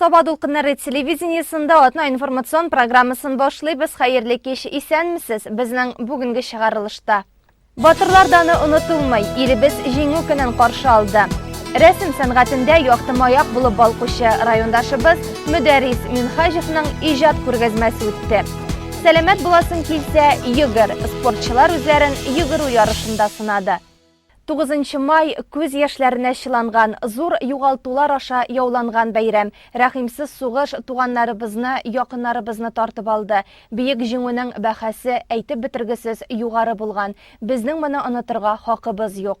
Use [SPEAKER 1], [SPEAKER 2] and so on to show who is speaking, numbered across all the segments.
[SPEAKER 1] Саба дулкыннары телевидениесында атна информацион программасын башлыйбыз. Хәерле кич, исәнмесез. Безнең бүгенге чыгарылышта. Батырлар даны онытылмый, илебез җиңү көнен каршы алды. Рәсем сәнгатендә якты маяк булып балкучы райондашыбыз Мөдәрис Минхаҗевның иҗат күргәзмәсе үтте. Сәламәт буласың килсә, йөгер. Спортчылар үзләрен йөгерү ярышында сынады. 9 май күз яшьләренә чыланган, зур югалтулар аша яуланган бәйрәм. Рәхимсез сугыш туганнарыбызны, якыннарыбызны тартып алды. Биек җиңүнең бәхәсе әйтеп бетергесез югары булган. Безнең моны онытырга хакыбыз юк.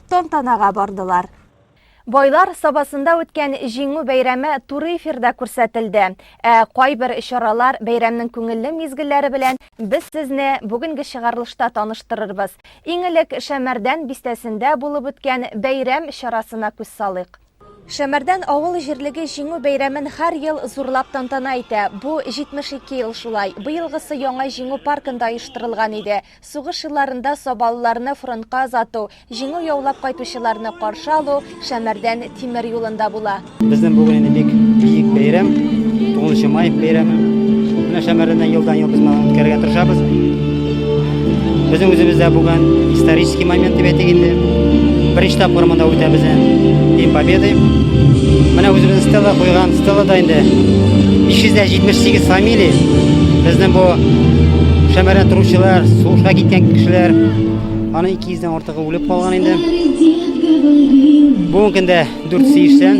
[SPEAKER 1] тантанага бардылар. Байлар Сабасында үткән Җиңү бәйрәме туры эфирда күрсәтелде. Ә кайбер чаралар, бәйрәмнең күңелле мизгелләре белән без сезне бүгенге чыгарылышта таныштырырбыз. Иң элек Шәмәрдән бистәсендә булып үткән бәйрәм чарасына күз салыйк. Шәмәрдән авыл җирлеге Җиңү бәйрәмен һәр ел зурлап тантана итә. Бу, 72 ел шулай. Быелгысы яңа Җиңү паркында оештырылган иде. Сугыш елларында сабалыларны фронтка озату, Җиңү яулап кайтучыларны каршы алу Шәмәрдән тимер юлында була. Безнең бүген инде бик
[SPEAKER 2] биек бәйрәм, 9 нчы май бәйрәме. Менә Шәмәрдәндә елдан-ел без моңа үткәрергә тырышабыз. Безнең үзебездә бүген исторический момент дип әйтик инде. Беренче тапкыр монда үтә безне День Победы. Менә үзебезнең стела куйган стелада инде 578 фамилия безнең бу шәмәрә торучылар, сугышка киткән кешеләр, аның 200-дән артыгы үлеп калган инде. Бүгенге көндә 480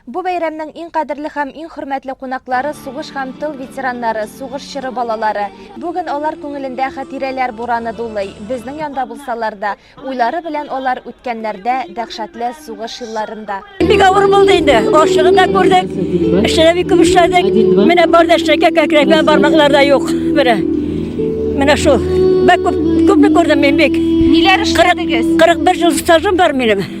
[SPEAKER 2] Бу бәйрәмнең иң
[SPEAKER 1] кадерле һәм иң хөрмәтле кунаклары сугыш һәм тыл ветераннары, сугыш чоры балалары. Бүген алар күңелендә хатирәләр бураны дулый. Безнең янда булсалар да, уйлары белән алар үткәннәрдә, дәһшәтле сугыш елларында. Бик авыр булды
[SPEAKER 3] инде. Ашлыгын да күрдек, эшне дә бик күп эшләдек. Менә бар да эшләгән кәкрәк белән бармаклар да юк. Менә. Менә шул. Бик күп, күпне күрдем мин бик. Ниләр эшләдегез?
[SPEAKER 1] 41 ел стажым
[SPEAKER 3] бар минем.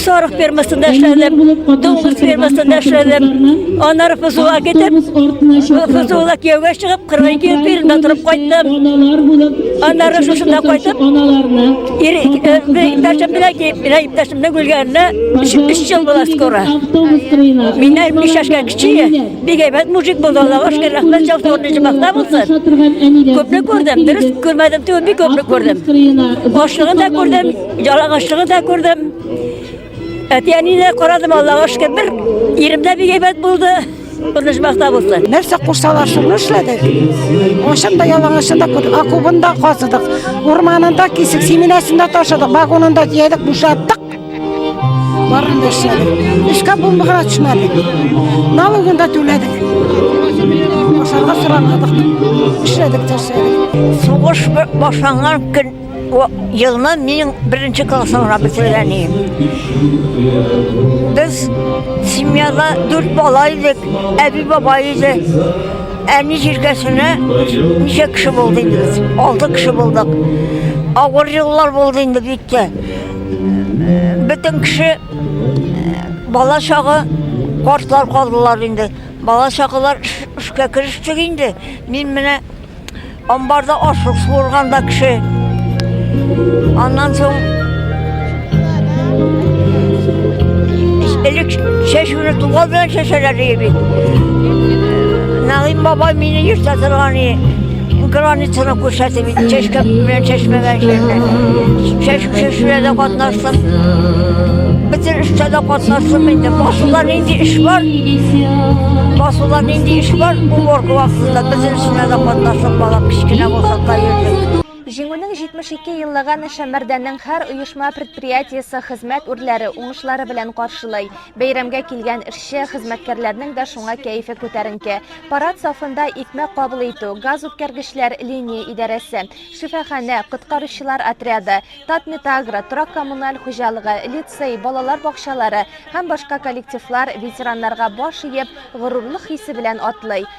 [SPEAKER 3] сарык фермасында эшләдем, дуңгыз фермасында эшләдем. Аннары Фузула китеп, Фузула кияүгә чыгып, 42 ел Пермьдә торып кайттым. Аннары шушында кайтып, иптәшем белән киеп, менә иптәшемнең үлгәненә 3 ел була скоро. Миннән биш яшькә кечие, бик әйбәт мужик булды, Аллага шөкер, рәхмәт җавсы урынчы бакта булсын. Күпне күрдем, дөрес күрмәдем, түгел, бик күпне күрдем. Башлыгын да күрдем, Жалаңашлыгы да күрдем. Әти-әни дә карадым, Аллаһуга шөкер. Бер ирем дә бик әйбәт булды. Күренеш бахта булды. Нәрсә кушсалар, шуны
[SPEAKER 4] эшләдек. Ашым да ялаңашым да күрдек. Акубын да казыдык. Урманында кисек, семинасында ташыдык. Вагонында җәйдек, бушаттык. Барын да эшләдек. Эшкә булмыгына төшмәдек. Налогын да түләдек. Ашарга сорамадык. Эшләдек, эшләдек. Сугыш
[SPEAKER 3] башланган көн Елны мин беренче классымда бетерген идем. Без семьяда дүрт бала идек, әби баба иде. Әни җиркәсенә ничә кеше булды инде без? Алты кеше булдык. Авыр еллар булды инде бик тә. Бөтен кеше бала чагы картлар калдылар инде. Бала чагылар эшкә керештек инде. Мин менә Амбарда ашлык суырганда кеше. Аннан соң элек чәчүне туган белән чәчәләр ди бит. Нәгыйм бабай мине йөртә торган границаны күрсәтеп бит чәчкә белән чәчмәгән җирдә. Чәчү чәчүләрдә катнаштым. Бөтен эштә дә катнаштым инде. Басуда нинди эш бар? Басуда нинди эш бар? Уборка вакытында бөтен Эшенә дә катнашып, бала кечкенә булса да йөрдек.
[SPEAKER 1] Җиңүнең 72 еллыгын Шәмәрдәннең һәр оешма предприятиесе хезмәт үрләре уңышлары белән каршылый. Бәйрәмгә килгән эшче, хезмәткәрләрнең дә шуңа кәефе күтәренке. Парад сафында икмәк кабул итү, газ үткәргечләр линия идарәсе, шифаханә, коткаручылар отряды, Татметагро, торак-коммуналь хуҗалыгы, лицей, балалар бакчалары һәм башка коллективлар ветераннарга баш иеп, горурлык хисе белән атлый.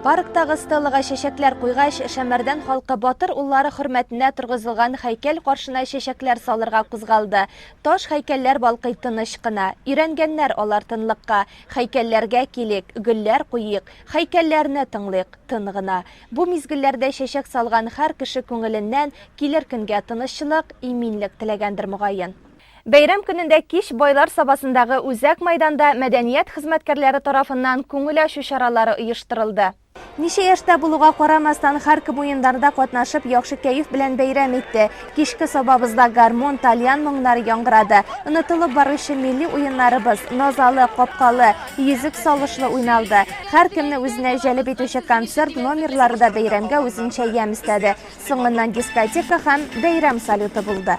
[SPEAKER 1] Парктагы стеллага чәчәкләр куйгач, Шәмәрдән халкы батыр уллары хөрмәтенә торгызылган хәйкәл каршына чәчәкләр салырга кузгалды. Таш хәйкәлләр балкый тыныч кына. Өйрәнгәннәр алар тынлыкка. Хәйкәлләргә килик, гөлләр куйыйк, хәйкәлләрне тыңлыйк, тын гына. Бу мизгелләрдә чәчәк салган һәр кеше күңеленнән килер көнгә тынычлык, иминлек теләгәндер мөгаен. Бәйрәм көнендә кич Байлар Сабасындагы үзәк мәйданда мәдәният хезмәткәрләре тарафыннан күңел ачу чаралары оештырылды. Ничә яшьтә булуга карамастан, һәркем уеннарда катнашып, яхшы кәеф белән бәйрәм итте. Кичке сабабызда гармун, тальян моңнары яңгырады. Онытылып баручы милли уеннарыбыз, Назалы, Капкалы, Йөзек салышлы уйналды. Һәркемне үзенә җәлеп итүче концерт номерлары да бәйрәмгә үзенчә ямь өстәде. Соңыннан дискотека һәм бәйрәм салюты булды.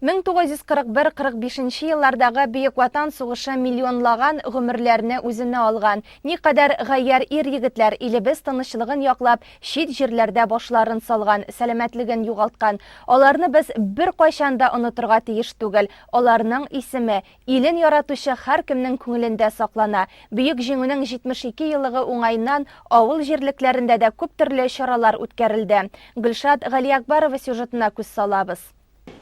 [SPEAKER 1] 1941-45 нче еллардагы Бөек Ватан сугышы миллионлаган гомерләрне үзенә алган. Никадәр гаярь ир-егетләр, илебез тынычлыгын яклап, чит җирләрдә башларын салган, сәламәтлеген югалткан. Аларны без беркайчан да онытырга тиеш түгел. Аларның исеме, илен яратучы һәркемнең күңелендә саклана. Бөек Җиңүнең 72 еллыгы уңаеннан авыл җирлекләрендә дә күптөрле чаралар үткәрелде. Гөлшат Галиәкбарова сюжетына күз салабыз.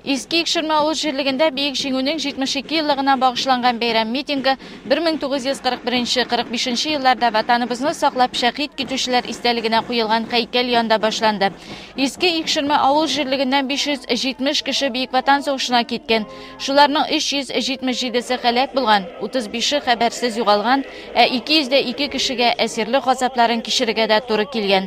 [SPEAKER 1] Иске Икшермә
[SPEAKER 5] авыл җирлегендә Бөек Җиңүнең 72 еллыгына багышланган бәйрәм митингы 1941 45 нче елларда Ватаныбызны саклап шәһит китүчеләр истәлегенә куелган һәйкәл янында башланды. Иске Икшермә авыл җирлегеннән 570 кеше Бөек Ватан сугышына киткән. Шуларның 377 се һәлак булган, 35 ше хәбәрсез югалган, ә 202 кешегә әсирлек газапларын кичерергә дә туры килгән.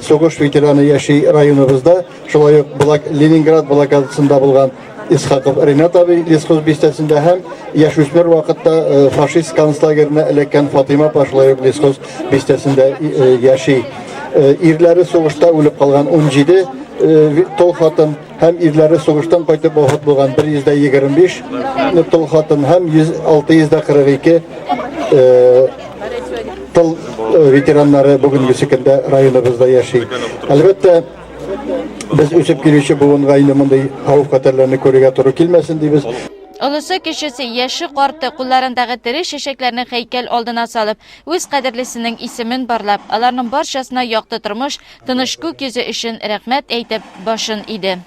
[SPEAKER 6] Сугыш ветераны яши районыбызда, шулай ук Блак Ленинград блокадасында булган Исхаков Ренат абый Лесхоз бистәсендә һәм яшүсмер вакытта э, фашист концлагеренә эләккән Фатыйма апа шулай ук Лесхоз бистәсендә э, яши. Э, ирләре сугышта үлеп калган 17 тол хатын һәм ирләре сугыштан кайтып вафат булган 125 ну, тол хатын һәм 642 э, тыл э, ветераннары бүгенге көндә районыбызда яши. Әлбәттә, без үсеп килүче буынга инде мондый хавыф хәтәрләрне күрергә туры килмәсен дибез. Олысы
[SPEAKER 5] кешесе, яше карты кулларындагы тере шешекләрне хәйкәл алдына салып, үз кадерлесенең исемен барлап, аларның барчасына якты тормыш, Тыныч күк йөзе өчен рәхмәт әйтеп башын иде.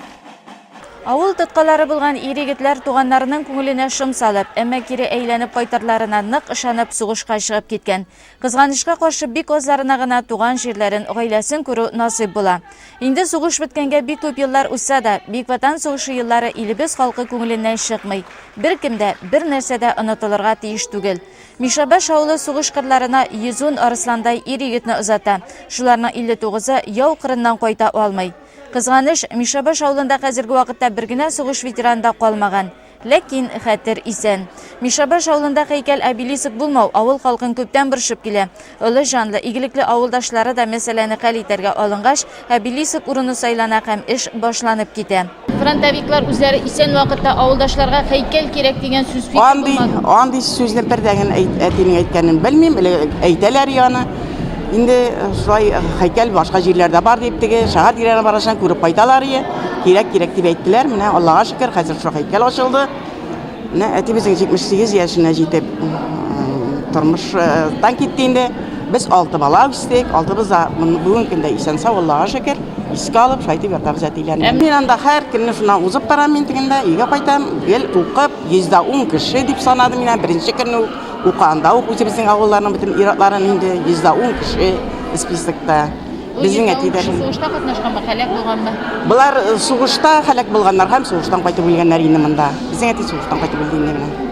[SPEAKER 5] Авыл тоткалары булган ир-егетләр туганнарының күңеленә шом салып, әмма кире әйләнеп кайтырларына нык ышанып сугышка чыгып киткән. Кызганычка каршы, бик азларына гына туган җирләрен, гаиләсен күрү насыйп була. Инде сугыш беткәнгә бик күп еллар узса да, Бөек Ватан сугышы еллары илебез халкы күңеленнән чыкмый. Беркем дә, бернәрсә дә онытылырга тиеш түгел. Мишәбаш авылы сугыш кырларына йөзун арысландай ир-егетне озата. Шуларның 59-ы яу кырыннан кайта алмый. Кызганыч, Мишәбаш авылында хәзерге вакытта бер генә сугыш ветераны да калмаган. Ләкин хәтер исән. Мишәбаш авылында һәйкәл-обелиск булмау авыл халкын күптән борчып килә. Олы җанлы, игелекле авылдашлары да мәсьәләне хәл итәргә алынгач, Әбилисов урыны сайлана һәм эш башланып китә. Фронтовиклар үзләре исән вакытта авылдашларга һәйкәл кирәк дигән сүз фикер Андый, булмады. андый
[SPEAKER 7] сүзне бер дә генә әйт, әтинең әйткәнен белмим, эле әйтәләр иде аны. Инде шулай һәйкәл башка җирләрдә бар дип, теге шәһәр тирәләренә баргачан күреп кайталар иде. Кирәк, кирәк дип әйттеләр, менә Аллага шөкер, хәзер шул һәйкәл ачылды. Менә әтибезнең 78 яшенә җитеп тормыштан китте инде. Без алты бала үстек, алтыбыз да бүгенге көндә исән сау, Аллага шөкер. Искә алып, шайтып ятабыз әтиләрне. Ә мин анда һәр көнне шунда узып барам мин тегендә, өйгә кайтам. Гел укып, 110 кеше дип санадым мин беренче көнне үк. Укыганда ук үзебезнең авылларның бөтен ир-атларын инде 110 кеше списокта. Безнең әтиләр. Бу сугышта катнашканмы,
[SPEAKER 5] хәлак булганмы? Болар
[SPEAKER 7] сугышта хәлак булганнар һәм сугыштан кайтып үлгәннәр инде монда. Безнең әти сугыштан кайтып үлде инде менә.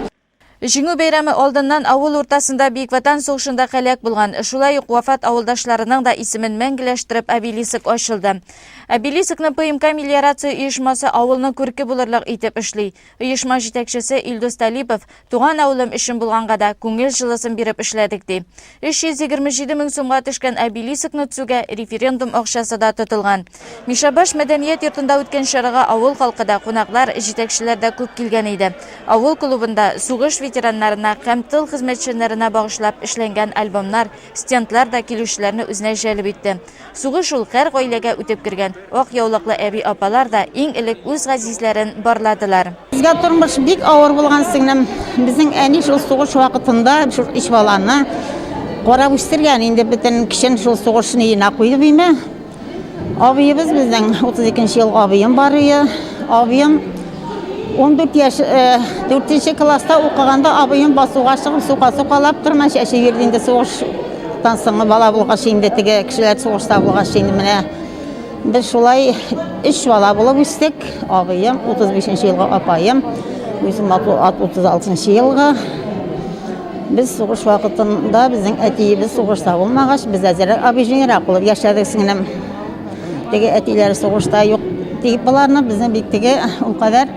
[SPEAKER 7] Җиңү бәйрәме
[SPEAKER 5] алдыннан авыл уртасында Бөек Ватан сугышында хәлак булган, шулай ук вафат авылдашларының да исемен мәңгеләштереп обелиск ачылды. Обелискны ПМК мелиорация оешмасы авылның күрке булырлык итеп эшли. Оешма җитәкчесе Илдус Талипов, Туган авылым өчен булганга да, күңел җылысын биреп эшләдек, ди. 327 мең сумга төшкән обелисокны төзүгә референдум акчасы да тотылган. Мишәбаш мәдәният йортында үткән чарага авыл халкы да, кунаклар, җитәкчеләр дә күп килгән иде. Авыл клубында сугыш ветераннарына һәм тыл хезмәтчәннәренә багышлап эшләнгән альбомнар, Стендлар да килүчеләрне үзенә җәлеп итте. Сугыш ул һәр гаиләгә үтеп кергән. Ак яулыклы әби-апалар да иң элек үз газизләрен барладылар. Безгә тормыш
[SPEAKER 4] бик авыр булган, сеңлем. Безнең әни шул сугыш вакытында шул өч баланы карап үстергән. Инде бөтен көчен шул сугыш өенә куйды, димме. Абыебыз безнең 32 ел абыем бар ие. Абыем 14 яш 4 э, класста укыганда абыем басуга чыгып сука сукалап тырма чәче йөрде инде сугыштан соң бала булгач инде теге кешеләр сугышта булгач инде менә без шулай өч бала булып үстек абыем 35 елга апаем үзем 36 елга Без сугыш вакытында безнең әтиебез сугышта булмагач, без әзерәк абыҗыйрак булып яшәдек сеңлем. Теге әтиләр сугышта юк дип боларны безне бик теге ул кадәр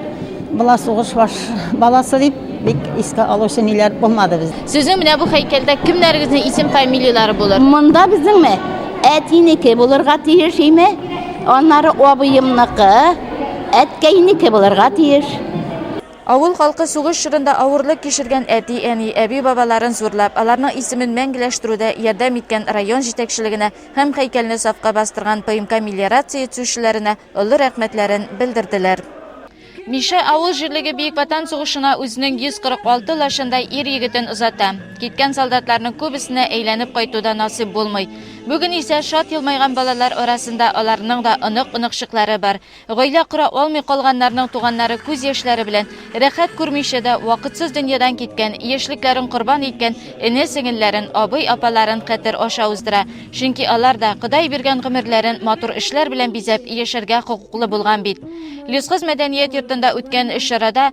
[SPEAKER 4] була сугыш баш баласы дип бик искә алучы ниләр булмады без. Сезнең менә бу һәйкәлдә
[SPEAKER 5] кемнәрегезнең исем фамилияләре булыр? Монда безнеңме?
[SPEAKER 8] Әтинеке булырга тиеш име? Аннары абыемныкы, әткәйнеке булырга тиеш. Авыл
[SPEAKER 5] халкы сугыш чорында авырлык кичергән әти-әни, әби-бабаларын зурлап, аларның исемен мәңгеләштерүдә ярдәм иткән район җитәкчелегенә һәм һәйкәлне сафка бастырган ПМК мелиорация итсүчеләренә олы рәхмәтләрен белдерделәр. Мишә авыл җирлеге Бөек Ватан сугышына үзенең 146 лачындай ир-егетен озата. Киткән солдатларның күбесенә әйләнеп кайту да насыйп булмый. Бүген исә шат елмайган балалар арасында аларның да онык-оныкчыклары бар. Гаилә кора алмый калганнарның туганнары күз яшьләре белән, рәхәт күрмичә дә, вакытсыз дөньядан киткән, яшьлекләрен корбан иткән эне-сеңелләрен, абый-апаларын хәтер аша уздыра, чөнки алар да, Ходай биргән гомерләрен матур эшләр белән бизәп, яшәргә хокуклы булган бит. Лесхоз мәдәният йортында үткән чарада,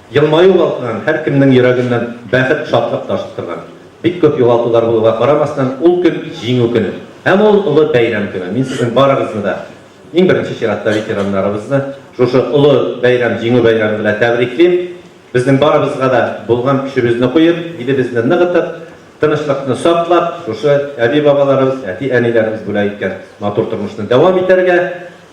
[SPEAKER 9] Елмаю вакытыннан һәркемнең йөрәгеннән бәхет, шатлык ташып торган. Бик күп югалтулар булуга карамастан, ул көн, Җиңү көне. Һәм ул олы бәйрәм көне. Мин сезнең барыгызны да, иң беренче чиратта ветераннарыбызны, шушы олы бәйрәм, Җиңү бәйрәме белән тәбриклим. Безнең барыбызга да булган көчебезне куеп, илебезне ныгытып, тынычлыкны саклап, шушы әби-бабаларыбыз, әти-әниләребез бүләк иткән матур тормышны дәвам итәргә.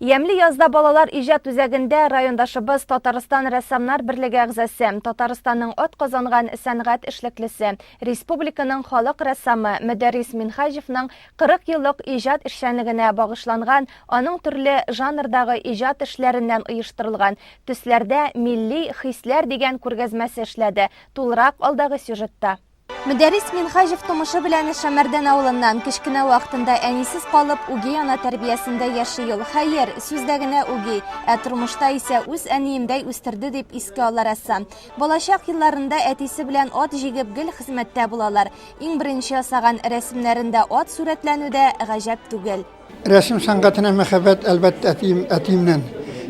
[SPEAKER 1] Ямьле язда балалар иҗат үзәгендә райондашыбыз Татарстан рәссамнар берлеге әгъзасе, Татарстанның атказанган сәнгать эшлеклесе, республиканың халык рәссамы Мөдәррис Минһаҗевның 40 еллык иҗат эшчәнлегенә багышланган, аның төрле жанрдагы иҗат эшләреннән оештырылган Төсләрдә милли хисләр дигән күргәзмәсе эшләде, тулырак алдагы сюжетта. Мөдәррис Минхаҗев тумышы белән Шәмәрдән авылыннан, кечкенә вакытында әнисез калып, үги ана тәрбиясендә яши ул. Хәер, сүздә генә үги, ә тормышта исә үз әниемдәй үстерде, дип искә ала рәссам. Балачак елларында әтисе белән ат җигеп гел хезмәттә булалар. Иң беренче ясаган рәсемнәрендә ат сурәтләнү дә гаҗәп түгел. Рәсем сәнгатенә
[SPEAKER 10] мәхәббәт, әлбәттә, әтием, әтиемнән.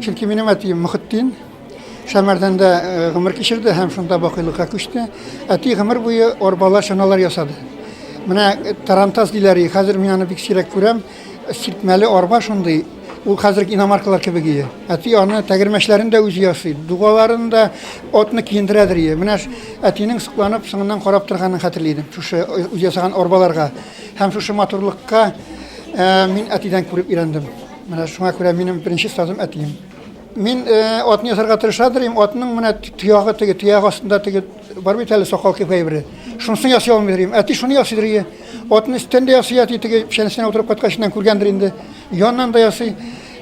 [SPEAKER 10] Чөнки минем әтием Мөхетдин. Сәмәрдәндә э, гомер кичерде һәм шунда бакыйлыкка күчте. Әти гомер буе арбалар, чаналар ясады. Менә э, тарантас диләр, и, хәзер мин аны бик сирәк күрәм. Сиртмәле арба шундый, ул хәзерге иномаркалар кебек ие. Әти аны тәгәрмәчләрен дә үзе ясый, дугаларын да отны киендерәдер ие. Менә ш- әтинең сокланып, соңыннан карап торганын хәтерли идем, шушы э, үз ясаган арбаларга. Һәм шушы матурлыкка мин әтидән күреп өйрәндем. Менә шуңа күрә минем беренче сазым әтием. Мин атны ясарга тырыша дирим, атның менә төягы теге, төяг астында теге бар бит әле сакал кепкәй бер. Шунысын ясый алмый дирим. Әти шуны ясый дирие. Атны өстендә ясый әти теге печәнсенә утырып каткачыннан күргәндер инде. Яннан да ясый.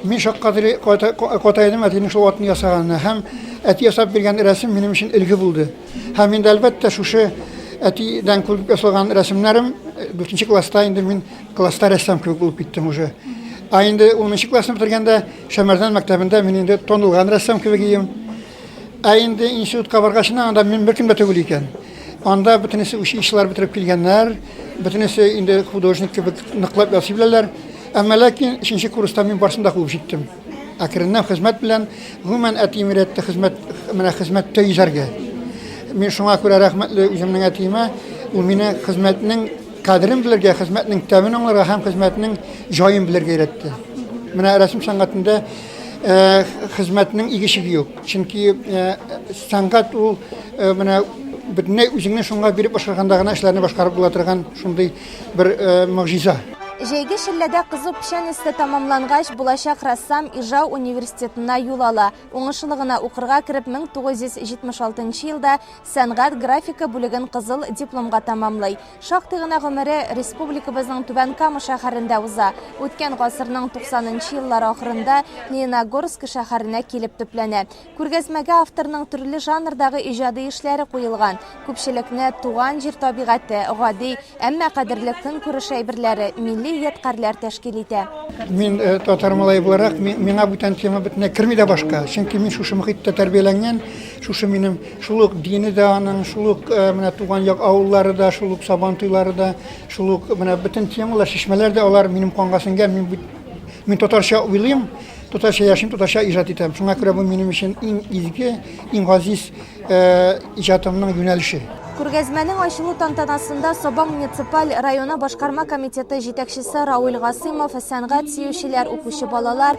[SPEAKER 10] Мин шаккатыри катаедым әтинең шул атны ясаганына һәм әти ясап биргән рәсем минем өчен элге булды. Һәм инде әлбәттә шушы әтидән күреп ясалган рәсемнәрем 4 класста инде мин класста рәссам кебек булып киттем уже. Ә инде 10 классны бетергәндә Шәмәрдән мәктәбендә мин инде танылган рәссам кебек идем. Ә инде институтка баргачына анда мин беркем дә түгел икән. Анда бөтенесе училищелар бетереп килгәннәр, бөтенесе инде художник кебек ныклап ясый беләләр. Әмма ләкин өченче курста мин барсын да куып җиттем. Әкренләп хезмәт белән, гомумән әтием өйрәтте хезмәт, менә хезмәттә йөзәргә. Мин шуңа күрә рәхмәтле үземнең әтиемә, ул мине хезмәтнең кадерен белергә, хезмәтнең тәмен аңларга һәм хезмәтнең җаен белергә өйрәтте. Менә рәсем сәнгатендә хезмәтнең игеше юк. Чөнки сәнгать ул менә бөтенләй үзеңне шуңа биреп башкарганда гына эшләрне башкарып була торган шундый бер могҗиза. Җәйге
[SPEAKER 1] челләдә кызу печән эссе тәмамлангач, булачак рәссам Ижау университетына юл ала. Уңышлы гына укырга кереп, 1976 елда сәнгать графика бүлеген кызыл дипломга тәмамлый. Шактый гына гомере республикабызның Түбән Кама шәһәрендә уза. Үткән гасырның 90 нчы еллар ахырында Лениногорск шәһәренә килеп төпләнә. Күргәзмәгә авторның төрле жанрдагы иҗади эшләре куелган. Күпчелекне туган җир табигате, гади, әмма кадерле көнкүреш әйберләре, милли ядкарьләр тәшкил итә. Мин татар
[SPEAKER 10] малае буларак, миңа бүтән тема бөтенләй керми дә башка. Чөнки мин шушы мохиттә тәрбияләнгән, шушы минем Шул ук дине дә аның, шул ук менә туган як авыллары да, шул ук Сабан туйлары да, шул ук менә бөтен темалар, чишмәләр дә алар минем канга сеңгән. Мин бит мин татарча уйлыйм, татарча яшим, татарча иҗат итәм. Шуңа күрә бу минем өчен иң изге, иң газиз иҗатымның юнәлеше. Күргәзмәнең
[SPEAKER 1] ачылу тантанасында Сабан муниципаль районы башкарма комитеты җитәкчесе Равил Гасыймов, сәнгать сөючеләр, укучы балалар,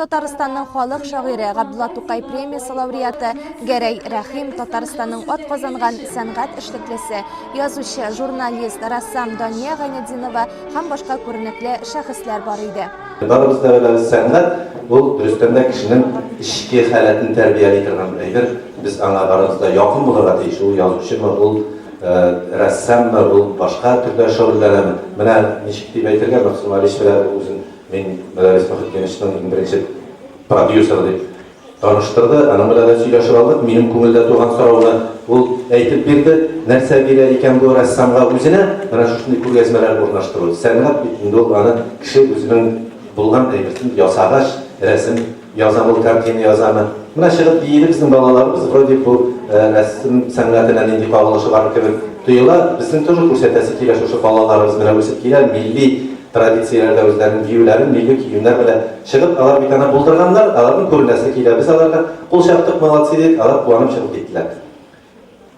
[SPEAKER 1] Татарстанның халык шагыйре, Габдулла Тукай премиясе лауреаты Гәрәй Рәхим, Татарстанның атказанган сәнгать эшлеклесе, язучы, журналист, рәссам Дания Гайнетдинова һәм башка күренекле шәхесләр бар иде. Барыбыз да беләбез,
[SPEAKER 9] сәнгать, ул, дөрестән дә, кешенең эчке халәтен тәрбияли торган әйбер. Без аңа барыбыз да якын булырга тиеш. Ул язучымы, ул рәссаммы, ул башка төрдә шөгыльләнәме. Менә ничек дип әйтергә, Мәгъсүмә Алишева үзен Мин Мәләрис Мөхетдиновичның иң беренче продюсеры дип таныштырды. Аның белән дә сөйләшеп алдык. Минем күңелдә туган сорауны ул әйтеп бирде. Нәрсә бирә икән бу рәссамга үзенә менә шушындый күргәзмәләр урнаштыру? Сәнгать бит инде ул, аны кеше үзенең булган әйберсен ясагач, рәсем Язам ул картина язамы? Менә чыгып биеде безнең балаларыбыз, вроде бу рәсем сәнгатенә нинди кагылышы бар кебек тоела. Безнең тоже күрсәтәсе килә шушы балаларыбыз менә үсеп килә, милли традицияләрдә үзләренең биюләрен, милли киемнәр белән чыгып, алар бит аны булдырганнар, аларның күренәсе килә. Без аларга кул чаптык, молодцы дидек, алар куанып чыгып киттеләр.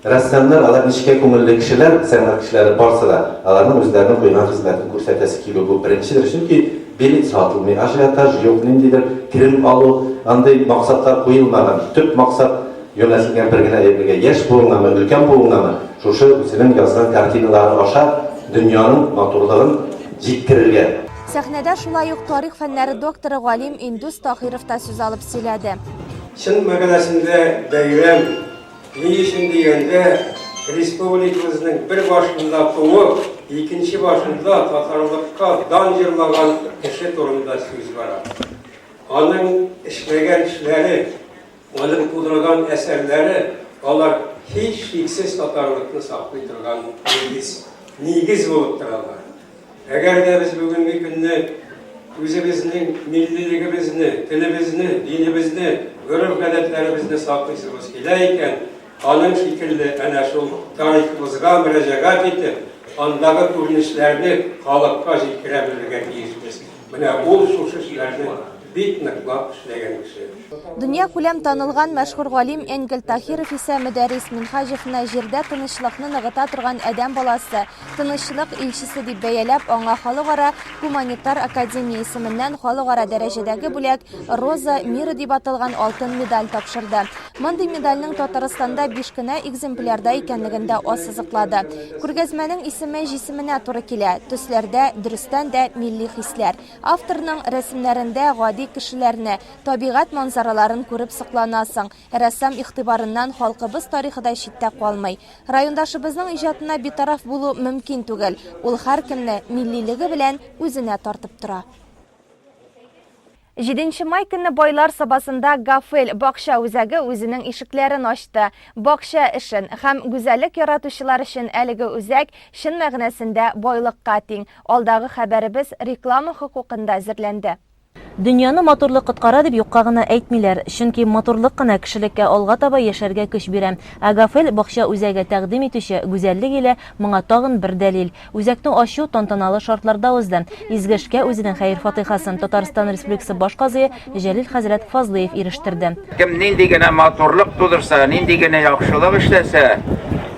[SPEAKER 9] Рәссамнар, алар нечкә күңелле кешеләр, сәнгать кешеләре барсы да, аларның үзләренең куйган хезмәтен күрсәтәсе килү бу беренчедер, чөнки билет сатылмый, ажиотаж юк, ниндидер керем алу, андый максатлар куелмаган, төп максат юнәлтелгән бер генә әйбергә, яшь буыңнамы, өлкән буыңнамы, шушы үзенең язган картиналары аша дөньяның матурлыгын җиткерергә. Сәхнәдә
[SPEAKER 1] шулай ук тарих фәннәре докторы, галим Индус Таһиров та сүз алып сөйләде. Чын
[SPEAKER 11] мәгънәсендә бәйрәм ни өчен дигәндә, республикабызның бер башында туып, икенче башында татарлыкка дан җырлаган кеше турында сүз бара. Аның эшләгән эшләре, аның тудырган әсәрләре, алар һичшиксез татарлыкны саклый торган нигез, нигез булып торалар. Әгәр дә без бүгенге көнне үзебезнең миллилегебезне, телебезне, динебезне, гореф-гадәтләребезне саклыйсыбыз килә икән, аның шикелле әнә шул тарихыбызга мөрәҗәгать итеп, андагы күренешләрне халыкка җиткерә белергә тиешбез. Менә ул шушы сүзне бик ныклап эшләгән кеше. Дөньякүләм
[SPEAKER 1] танылган мәшһүр галим Энгель Таһиров исә Мөдәррис Минһаҗевны җирдә тынычлыкны ныгыта торган адәм баласы, тынычлык илчесе дип бәяләп, аңа Халыкара гуманитар академия исеменнән халыкара дәрәҗәдәге бүләк, Роза мира дип аталган алтын медаль тапшырды. Мондый медальнең Татарстанда биш кенә экземплярда икәнлеген дә ассызыклады. Күргәзмәнең исеме җисеменә туры килә. Төсләрдә, дөрестән дә, милли хисләр. Авторның рәсемнәрендә гади кешеләрне, табигать манзараларын күреп сокланасың. Рәссам игътибарыннан халкыбыз тарихы да читтә калмый. Райондашыбызның иҗатына битараф булу мөмкин түгел. Ул һәркемне миллилеге белән үзенә тартып тора. Җиденче май көнне Байлар Сабасында Гафель бакча үзәге үзенең ишекләрен ачты. Бакча эшен һәм гүзәллек яратучылар өчен әлеге үзәк, чын мәгънәсендә, байлыкка тиң. Алдагы хәбәребез реклама хокукында әзерләнде. Дөньяны
[SPEAKER 12] матурлык коткара дип юкка гына әйтмиләр, чөнки матурлык кына кешелеккә алга таба яшәргә көч бирә. Ә Гафель бакча үзәге тәкъдим итүче гүзәллек иле моңа тагын бер дәлил. Үзәкне ачу тантаналы шартларда узды. Изге эшкә үзенең хәер-фатыйхасын Татарстан Республикасы Баш казые Җәлил хәзрәт Фазлыев ирештерде. Кем нинди генә
[SPEAKER 13] матурлык тудырса, нинди генә яхшылык эшләсә,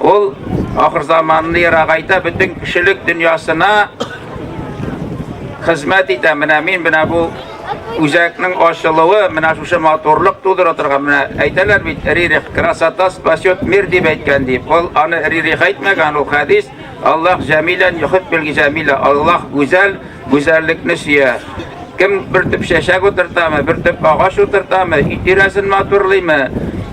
[SPEAKER 13] ул ахырзаманны ерагайта, бөтен кешелек дөньясына хезмәт итә. Менә мин менә бу үзәкнең ачылуы, менә шушы матурлык тудыра торган, менә әйтәләр бит, Рерих, красота спасет мир, дип әйткән, дип. Ул аны Рерих әйтмәгән, ул хәдис. Аллаһ җәмилән йохиб белги җәмилә. Аллаһ гүзәл, гүзәллекне сөя. Кем бер төп чәчәк утыртамы, бер төп агач утыртамы, өй тирәсен матурлыймы,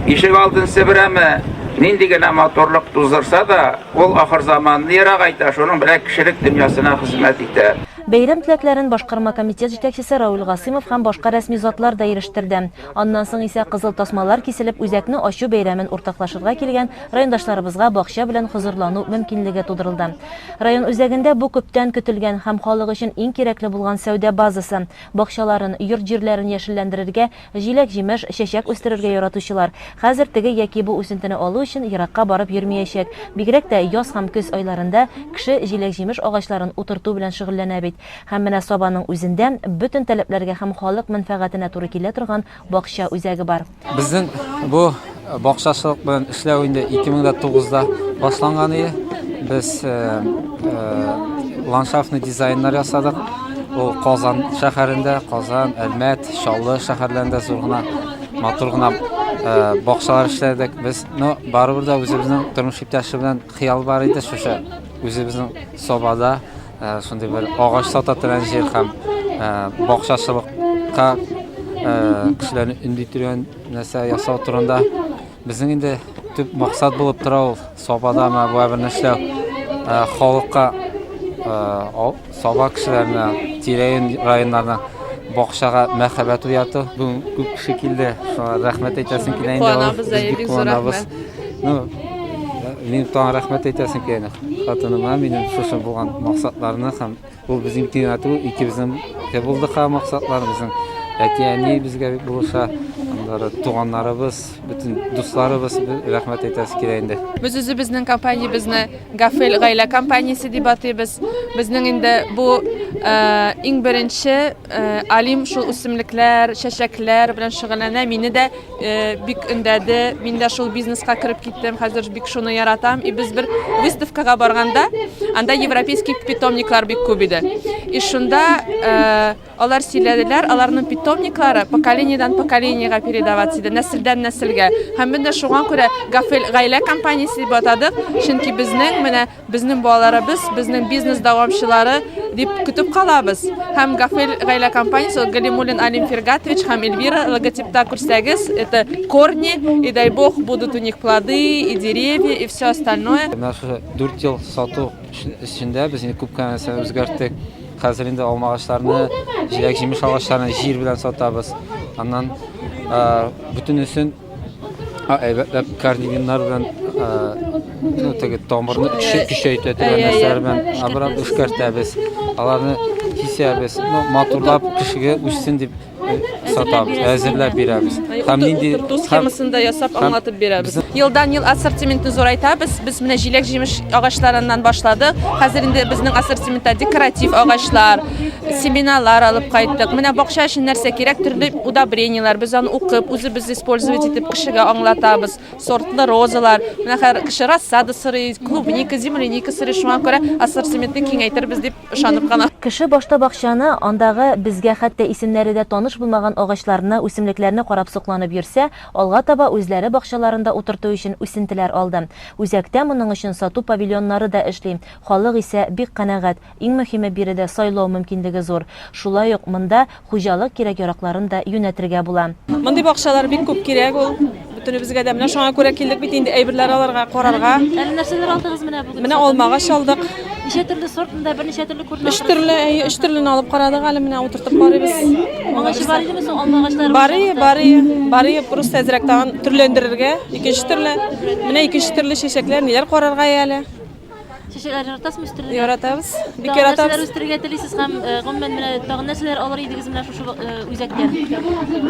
[SPEAKER 13] ишек алдын себерәме, нинди генә матурлык туздырса да, ул ахыр заманны ерак әйтә, шуның белән кешелек дөньясына хезмәт итә. Бәйрәм теләкләрен
[SPEAKER 12] башкарма комитет җитәкчесе Равил Гасыймов һәм башка рәсми затлар да ирештерде. Аннан соң исә кызыл тасмалар киселеп үзәкне ачу бәйрәмен уртаклашырга килгән райондашларыбызга бакча белән хозурлану мөмкинлеге тудырылды. Район үзәгендә бу күптән көтелгән һәм халык өчен иң кирәкле булган сәүдә базасы. Бакчаларын, йорт-җирләрен яшелләндерергә, җиләк-җимеш, чәчәк үстерергә яратучылар хәзер теге яки бу үсентене алу өчен еракка барып йөрмиячәк. Бигрәк тә яз һәм көз айларында кеше җиләк-җимеш агачларын утырту белән шөгыльләнә бит. Һәм менә Сабаның үзендә бөтен таләпләргә һәм халык мәнфәгатенә туры килә торган бакча үзәге бар. Безнең бу
[SPEAKER 14] бакчачылык белән эшләү инде 2009 да башланган иде. Без ландшафтный дизайннар ясадык. Ул Казан шәһәрендә, Казан, Әлмәт, Чаллы шәһәрләрендә зур гына, матур гына бакчалар эшләдек. Без, ну, барыбер дә үзебезнең тормыш иптәше белән хыял бар иде, шушы үзебезнең Сабада Шундый бер агач сата торган җир һәм бакчачылыкка кешеләрне өнди торган нәрсә ясау турында безнең инде төп максат булып тора ул сабада ма бу бер нәрсә халыкка саба кешеләренә тирәен районнарына бакчага мәхәббәт уяту бүген күп кеше килде шуңа рәхмәт әйтәсем килә инде куанабыз бик куанабыз
[SPEAKER 5] ну
[SPEAKER 14] минем тагын рәхмәт әйтәсем килә Хатыныма минем шушы булган максатларны һәм ул безнең тиңәтү икебезнең дә булды ха максатлар безнең. Әти-әни безгә бик булыша, аннары туганнарыбыз, бөтен дусларыбыз рәхмәт әйтәсе килә инде. Без үзебезнең
[SPEAKER 5] компаниябезне Гафел гаилә компаниясе дип атыйбыз. Безнең инде бу иң беренче Алим шул үсемлекләр, чәчәкләр белән шөгыльләнә. Мине дә Э, бик өндәде мин дә шул бизнеска кереп киттем хәзер бик шуны яратам и без бер выставкага барганда анда европейский питомниклар бик күп иде и шунда э, алар сөйләделәр аларның питомниклары поколениедән поколениега передавать иде нәселдән нәселгә һәм без дә шуңа күрә гафел гаилә компаниясе дип атадык чөнки безнең менә Безнең балаларыбыз, безнең бизнес дәвамчылары, дип көтеп калабыз. Һәм Гафел гаилә компаниясе, ул Галимуллин Алим Фиргатович һәм Эльвира, логотипта күрсәгез, это корни, и дай Бог, будут у них плоды, и деревья, и всё остальное. Менә шушы дүрт
[SPEAKER 14] ел сату эчендә без инде күп кенә нәрсәне үзгәрттек. Хәзер инде алма агачларны, җиләк-җимеш агачларын җир белән сатабыз. Аннан бөтенесен. әйбәтләп карнигиннар белән ну теге тамырны көчәйтә торган нәрсәләр белән абрап эшкәртәбез аларны кисәбез ну матурлап кешегә үссен дип сатабыз әзерләп бирәбез һәм нинди утырту схемасында ясап
[SPEAKER 5] аңлатып бирәбез елдан ел ассортиментны зурайтабыз без менә җиләк җимеш агачларыннан башладык хәзер инде безнең ассортиментта декоратив агачлар семенарлар алып кайттык. Менә бакча өчен нәрсә кирәк, төрле удобренияләр, без аны укып, үзебез использовать итеп кешегә аңлатабыз. Сортлы розалар, менә хәзер кеше рассада сорый, клубника, земляника сорый, шуңа күрә ассортиментны киңәйтербез дип ышанып кына. Кеше башта бакчаны,
[SPEAKER 12] андагы безгә хәтта исемнәре дә таныш булмаган агачларны, үсемлекләрне карап сокланып йөрсә, алга таба үзләре бакчаларында утырту өчен үсентеләр алды. Үзәктә моның өчен сату павильоннары да эшли, халык исә бик канәгать. Иң мөһиме биредә сайлау мөмкинлеге зур. Шулай ук монда хуҗалык кирәк-яракларын да юнәтергә була. Мондый бакчалар бик
[SPEAKER 5] күп кирәк ул бөтенебезгә дә. Менә шуңа күрә килдек бит инде әйберләр алырга, карарга. Әле нәрсәләр алдыгыз
[SPEAKER 12] менә бүген? Менә алмагач алдык.
[SPEAKER 5] Ничә төрле сорт
[SPEAKER 12] монда? Берничә төрле күренә. Өч төрле, әйе, өч төрлене
[SPEAKER 5] алып карадык әле менә утыртып карыйбыз. Моңарчы бар
[SPEAKER 12] идеме соң алма агачлары? Бар ие, бар ие. Бар ие,
[SPEAKER 5] просто әзрәк тагын төрләндерергә. Икенче төрле. Менә икенче төрле чәчәкләр, ниләр карарга әле. Чәчәкләр
[SPEAKER 12] яратасызмы үстерергә? Яратабыз. Бик Тагын
[SPEAKER 5] нәрсәләр яратабыз. үстерергә
[SPEAKER 12] телисез
[SPEAKER 5] һәм
[SPEAKER 12] э, гомумән менә тагын нәрсәләр алыр идегез менә шушы э, үзәктән?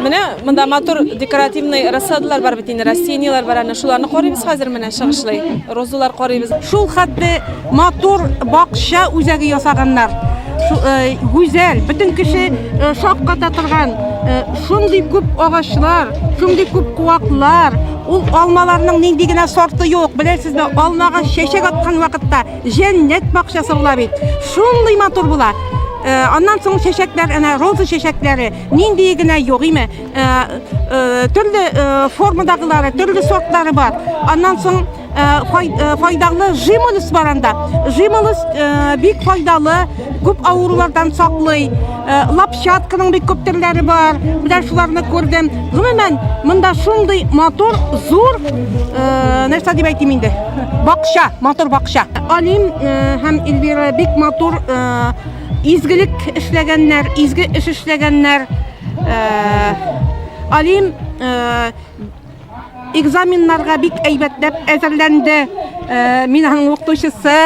[SPEAKER 12] Менә монда
[SPEAKER 5] матур декоративный рассадалар бар бит инде, растенияләр бар әнә шуларны карыйбыз хәзер менә чыгышлый. Розалар карыйбыз. Шул хәтле
[SPEAKER 15] матур бакча үзәге ясаганнар. Шу- э, Гүзәл, бөтен кеше э, шакката торган, э, шундый күп агачлар, шундый күп куаклар, Ул алмаларның нинди генә сорты юк, беләсезме, алмага чәчәк аткан вакытта җәннәт бакчасы була бит. Шундый матур була. Э, аннан соң чәчәкләр, әнә роза чәчәкләре, нинди генә юк име, э, э, төрле формадагылары, төрле сортлары бар. Аннан соң файдалы жимолус бар анда. Жимолус бик файдалы. Күп авырулардан саклый. Э, лапчатканың бик күп төрләре бар. Менә шуларны күрдем. Гомумән, монда шундый мотор, зур, э, нәрсә дип әйтим инде? Бакча, мотор бакча. Алим э, һәм Эльвира бик мотор изгелек эшләгәннәр, изге эш эшләгәннәр. Алим экзаменнарга бик әйбәтләп әзерләнде. Э, мин аның укытучысы.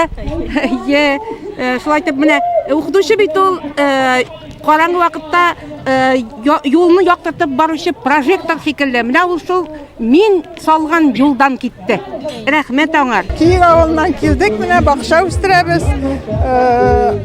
[SPEAKER 15] Е, э, шулай итеп менә укытучы бит ул э, караңгы вакытта юлны яктыртып баручы прожектор шикелле. Менә ул шул мин салган юлдан китте. Рәхмәт аңар. Киев авылыннан
[SPEAKER 16] килдек, менә бакча үстерәбез.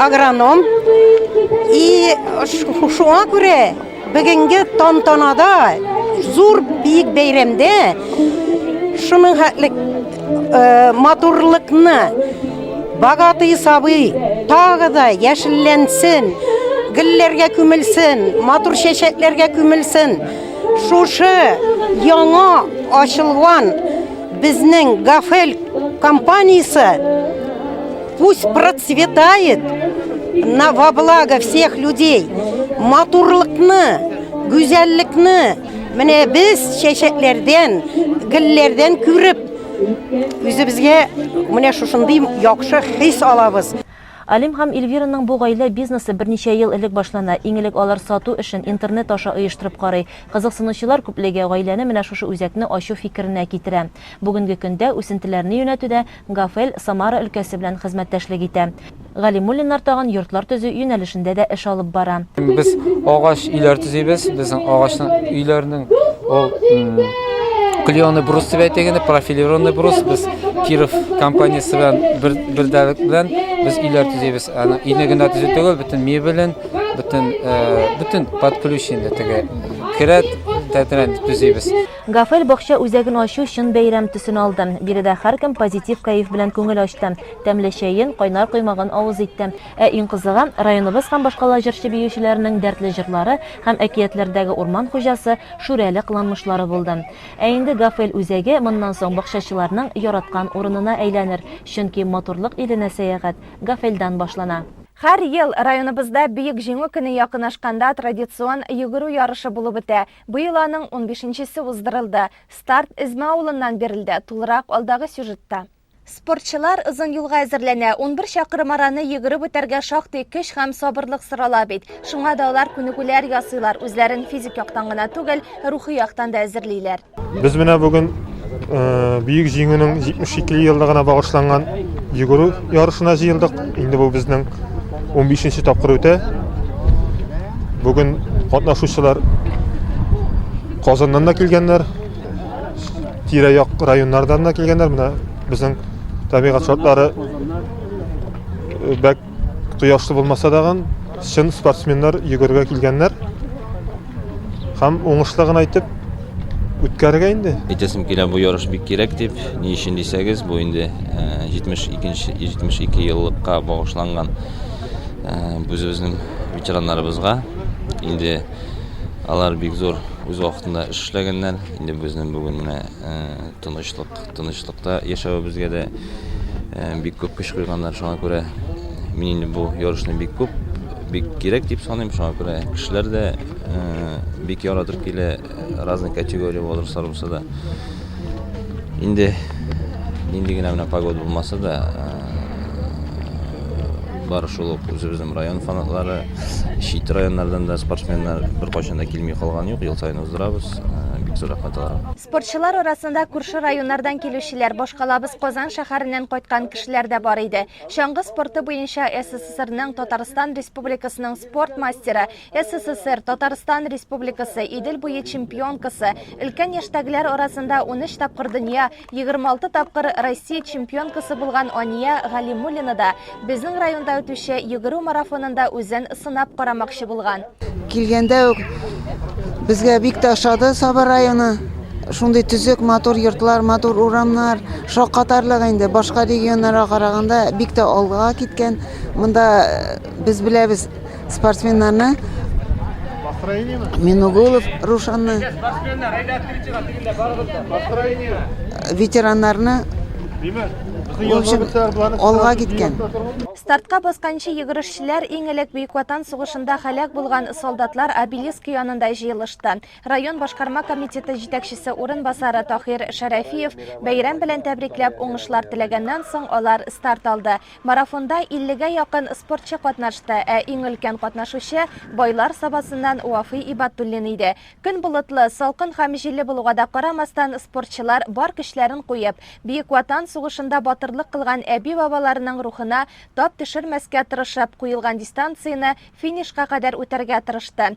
[SPEAKER 15] Агроном и шуңа күрә бүгенге тантанада зур бик бәйрәмдә шуның хәтлек э, матурлыкны богатый сабый тагы да яшелләнсен
[SPEAKER 3] гөлләргә күмелсен матур чәчәкләргә күмелсен шушы яңа ачылган безнең гафел компаниясе Пусть процветает на во благо всех людей. Матурлыкны, гүзәллекне менә без чәчәкләрдән, гөлләрдән күреп үзебезгә менә шушындый яхшы хис алабыз. Алим һәм
[SPEAKER 12] Эльвираның бу гаилә бизнесы берничә ел элек башлана. Иң элек алар сату эшен интернет аша оештырып карый. Кызыксынучылар күплеге гаиләне менә шушы үзәкне ачу фикеренә китерә. Бүгенге көндә үсентеләрне юнәтүдә Гафел, Самара өлкәсе белән хезмәттәшлек итә. Галимуллиннар тагын йортлар төзү юнәлешендә дә эш алып бара. Без агач
[SPEAKER 14] өйләр төзибез. Безнең агачның өйләренең ул клееный брус дип әйтик инде, профилированный брус. Без Киров компаниясе белән бер бердәлек белән без өйләр төзибез. Аны өйне генә төзү түгел, бөтен мебелен, бөтен бөтен под ключ инде теге керәт, тәтрән төзибез. Гафел бакча
[SPEAKER 12] үзәген ачу чын бәйрәм төсен алды. Биредә һәркем позитив кәеф белән күңел ачты, тәмле чәен, кайнар коймагын авыз итте. Ә иң кызыгы, районыбыз һәм башкала җырчы-биючеләренең дәртле җырлары һәм әкиятләрдәге урман хуҗасы Шүрәле кыланмышлары булды. Ә инде Гафел үзәге моннан соң бакчачыларның яраткан урынына әйләнер, чөнки матурлык иленә сәяхәт Гафелдән башлана. Һәр ел
[SPEAKER 1] районыбызда Бөек Җиңү көне якынашканда традицион йөгерү ярышы булып үтә. Быел аның унбишенчесе уздырылды. Старт Эзмә авылыннан бирелде, тулырак алдагы сюжетта. Спортчылар озын юлга әзерләнә. Унбер чакрым араны йөгереп үтәргә шактый көч һәм сабырлык сорала бит. Шуңа да алар күнегүләр ясыйлар, үзләрен физик яктан гына түгел, рухи яктан да әзерлиләр. Без менә бүген
[SPEAKER 17] Бөек Җиңүнең 72 еллыгына багышланган йөгерү ярышына җыелдык. Инде бу безнең 15 нче тапкыр үтә. Бүген катнашучылар Казаннан да килгәннәр, тирә-як районнардан да килгәннәр. Менә безнең табигать шартлары бәк Кояшлы булмаса дагын, чын спортсменнар йөгергә килгәннәр. Һәм уңышлы гына итеп үткәрергә инде. Әйтәсем килә, бу ярыш
[SPEAKER 18] бик кирәк дип. Ни өчен дисәгез, бу инде 72 э, 72 еллыкка багышланган э, үзебезнең ветераннарыбызга. Инде алар бик зур үз вакытында эш эшләгәннәр. Инде безнең бүген менә э, тынычлык Тынычлыкта яшәвебезгә дә бик күп көч куйганнар, шуңа күрә мин инде бу ярышны бик күп, бик кирәк дип саныйм, шуңа күрә кешеләр дә бик яратып килә, разный категория возрастлар булса да. Инде нинди генә менә погода булмаса да, бар шул ук үзебезнең район фанатлары, чит районнардан да спортсменнар беркайчан да килми калган юк, ел саен уздырабыз, бик зур рәхмәт аларга. Спортчылар арасында
[SPEAKER 1] күрше районнардан килүчеләр, башкалабыз Казан шәһәреннән кайткан кешеләр дә бар иде. Чаңгы спорты буенча СССРның Татарстан Республикасының спорт мастеры, СССР, Татарстан Республикасы, Идел буе чемпионкасы, өлкән яшьтәгеләр арасында 13 тапкыр дөнья, 26 тапкыр Россия чемпионкасы булган Ания Галимуллина да Безнең районда үтүче йөгерү марафонында үзен сынап карамакчы булган. Килгәндә үк
[SPEAKER 19] безгә бик тә ошады Саба районы. Шундый төзек, матур йортлар, матур урамнар, шаккатарлык инде. Башка регионнарга караганда бик тә алга киткән. Монда без беләбез, Спортсменнарны Минугулов Рушанны ветераннарны в общем, алга киткән. Стартка
[SPEAKER 1] басканчы йөгерешчеләр иң элек Бөек Ватан сугышында һәлак булган солдатлар обелиск янында җыелышты. Район башкарма комитеты җитәкчесе урынбасары Тахир Шәрәфиев бәйрәм белән тәбрикләп уңышлар теләгәннән соң алар старт алды. Марафонда иллегә якын спортчы катнашты, ә иң өлкән катнашучы Байлар Сабасыннан Вафый Ибатуллин иде. Көн болытлы, салкын һәм җилле булуга да карамастан, спортчылар бар көчләрен куеп, Бөек Ватан сугышында батырлык кылган әби-бабаларының рухына тап төшермәскә тырышып, куелган дистанцияне финишка кадәр үтәргә тырышты.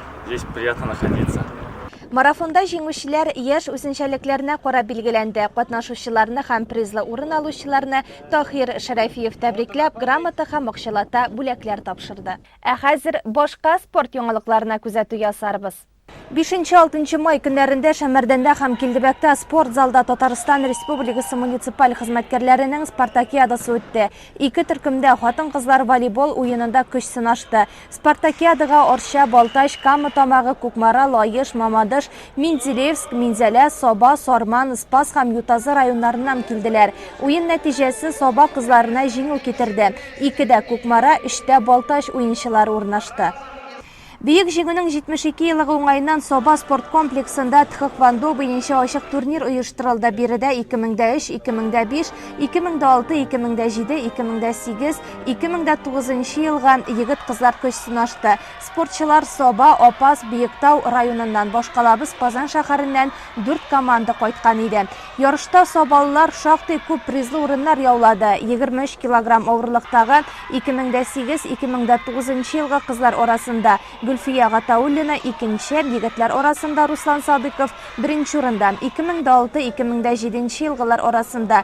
[SPEAKER 20] Здесь приятно находиться. Марафонда
[SPEAKER 1] җиңүчеләр яшь үзенчәлекләренә карап билгеләнде. Катнашучыларны һәм призлы урын алучыларны Таһир Шәрәфиев тәбрикләп, грамота һәм акчалата бүләкләр тапшырды. Ә хәзер башка спорт яңалыкларына күзәтү ясарбыз. Бишенче-алтынчы май көннәрендә Шәмәрдәндә һәм Килдебәктә спорт залда Татарстан Республикасы муниципаль хезмәткәрләренең спартакиадасы үтте. Ике төркемдә хатын-кызлар волейбол уенында көч сынашты. Спартакиадага Арча, Балтач, Кама Тамагы, Кукмара, Лаеш, Мамадыш, Менделеевск, Минзәлә, Саба, Сарман, Спас һәм Ютазы районнарыннан килделәр. Уен нәтиҗәсе Саба кызларына җиңү китерде. Икедә, Кукмара, өчтә, Балтач уенчылары урнашты. Бөек Җиңүнең 72 еллыгы уңаеннан Саба спорт комплексында тхэквондо буенча ачык турнир оештырылды, биредә 2003, 2005, 2006, 2007, 2008, 2009 нчы елга егет-кызлар көч сынашты. Спортчылар Саба, Апас, Биектау районыннан, башкалабыз Казан шәһәреннән дүрт команда кайткан иде. Ярышта сабалылар шактый күп призлы урыннар яулады. 23 килограмм авырлыктагы 2008, 2009 нчы елгы кызлар арасында Гөлфия Гатауллина, икенче, егетләр арасында Руслан Садыйков, беренче урында, 2006, 2007 нче елгылар арасында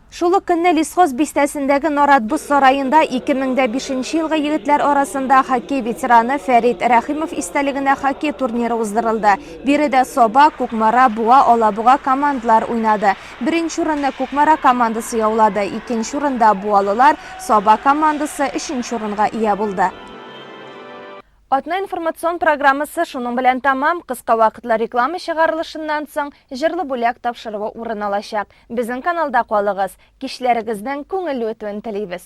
[SPEAKER 1] Шул ук көнне Лесхоз бистәсендәге Нарат боз сараенда 2005 нче елгы егетләр арасында хоккей ветераны Фәрит Рәхимов истәлегенә хоккей турниры уздырылды. Биредә Саба, Кукмара, Буа, Алабуга командалар уйнады. Беренче урынны Кукмара командасы яулады, икенче урында, буалылар, Саба командасы өченче урынга ия булды. Атна информацион программасы шуның белән тәмам, кыска вакытлы реклама чыгарылышыннан соң, җырлы бүләк тапшыруы урын алачак. Безнең каналда калыгыз! Кичләрегезнең күңелле үтүен телибез!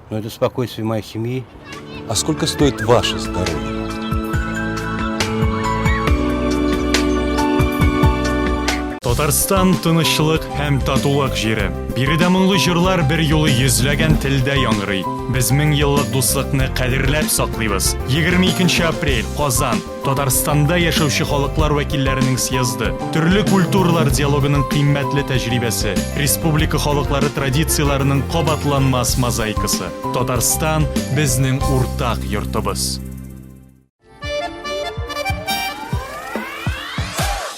[SPEAKER 7] Но это спокойствие
[SPEAKER 8] моей семьи. А сколько стоит ваше здоровье?
[SPEAKER 10] Татарстан тынычлык һәм татулык җире. Биредә моңлы җырлар бер юлы йөзләгән телдә яңгырый. Без мең еллык дуслыкны кадерләп саклыйбыз. 22 апрель, Казан. Татарстанда яшәүче халыклар вәкилләренең съезды, төрле культуралар диалогының кыйммәтле тәҗрибәсе, республика халыклары традицияләренең кабатланмас мозаикасы. Татарстан, безнең уртак йортыбыз.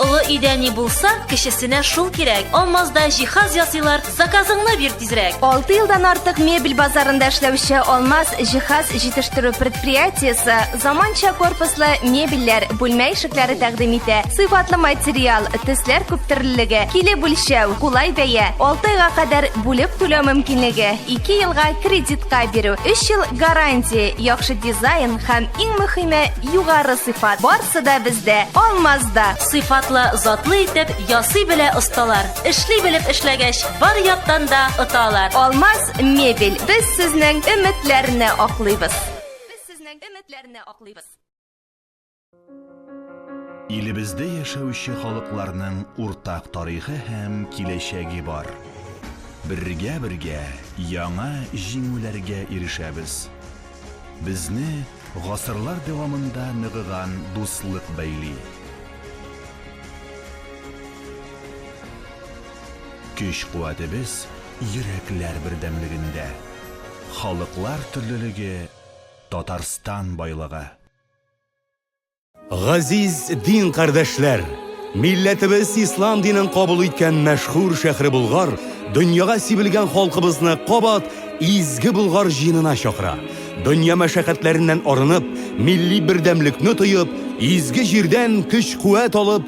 [SPEAKER 21] Олы өйдә ни булса, кечесенә шул кирәк. Алмазда җиһаз ясыйлар, заказыңны бир, Тизрәк. 6 елдан артык
[SPEAKER 1] мебель базарында эшләүче Алмаз җиһаз җитештерү предприятиесе заманча корпуслы мебельләр, бүлмә ишекләре тәкъдим итә. Сыйфатлы материал, төсләр күптөрлелеге, килеп үлчәү, кулай бәя, 6 айга кадәр бүлеп түләү мөмкинлеге, 2 елга кредитка бирү, 3 ел гарантия, яхшы дизайн һәм иң мөһиме югары сыйфат. Барсы да бездә, Алмазда. Сыйфатлы,
[SPEAKER 21] затлы итеп ясый белә осталар. Эшли белеп эшләгәч, Бар яктан да оталар. Алмаз мебель.
[SPEAKER 1] Без сезнең өметләрне аклыйбыз. Без сезнең өметләрне аклыйбыз.
[SPEAKER 22] Илебездә яшәүче халыкларның уртак тарихы һәм киләчәге бар. Бергә-бергә яңа җиңүләргә ирешәбез. Безне гасырлар дәвамында ныгыган дуслык бәйли. Көч-куәтебез йөрәкләр бердәмлегендә. Халыклар төрлелеге, Татарстан байлыгы.
[SPEAKER 23] Газиз дин кардәшләр! Милләтебез ислам динен кабул иткән мәшһүр шәхре Болгар дөньяга сибелгән халкыбызны кабат изге Болгар җыенына чакыра. Дөнья мәшәкатьләреннән арынып, милли бердәмлекне тоеп, изге җирдән көч-куәт алып,